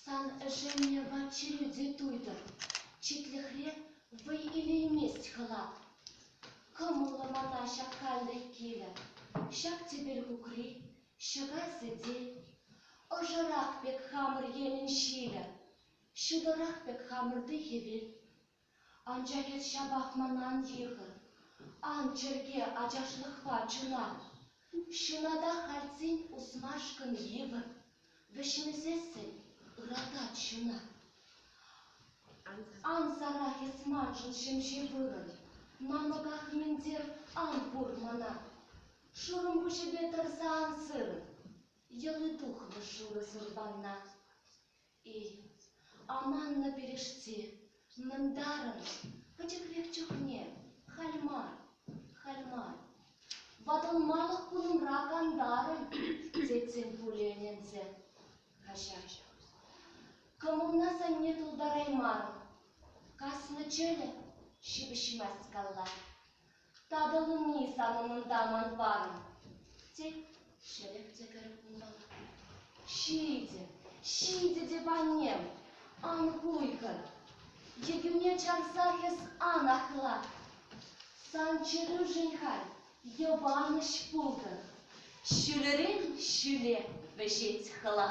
Сан ӗшеннӗ ват-чӗрӳ те туйтӑр, читлӗхре вӑй илеймест хӑлат. Кӑмӑллӑ мана ҫак каллӗ килӗ, ҫак тӗпел кукри, ҫӑкай сӗте. Ӑшӑрах пек хамӑр енӗн ҫилӗ, ҫутӑрах пек хамӑрти хӗвел. Анчах эс ҫапах манан йӑхӑ. Ан чӗрке ачашлӑхпа чуна. Ҫуната хальтсен усмашкӑн йывӑр. Вӗҫмесессӗн ыратать ҫуна. Ан сарах эс маншӑн ҫемҫе вырӑн. Намӑках нимӗнтер ан пур мана. Шурӑм куҫӗпе тӑрса ан сыр. Йӑли тухмӗ шурӑ сӑрпанна. Эй, аманнӑ пирӗшти, мӑнтарӑн, пӗчӗк пек чухне, халь мар, халь мар, ватӑлмалӑх кунӑмра кантарӑн, тетсем пулӗ ӗненсе. Каҫар, кӑмӑлна санне тултараймарӑм. Каснӑ чӗлӗ ҫыпӑҫмасть калла. Татӑлни сан умӑнта ман парӑм, тет. Ҫӗлӗк те кӗр унӑн. Ҫитӗ, ҫитӗ теп, аннем, ан куйкӑ. Йӗкӳне чарса эс ан ахла. Сан чӗрӳшӗн халь йӑпанӑҫ пултӑр, ҫӳлерен ҫӳле вӗҫет хӑла.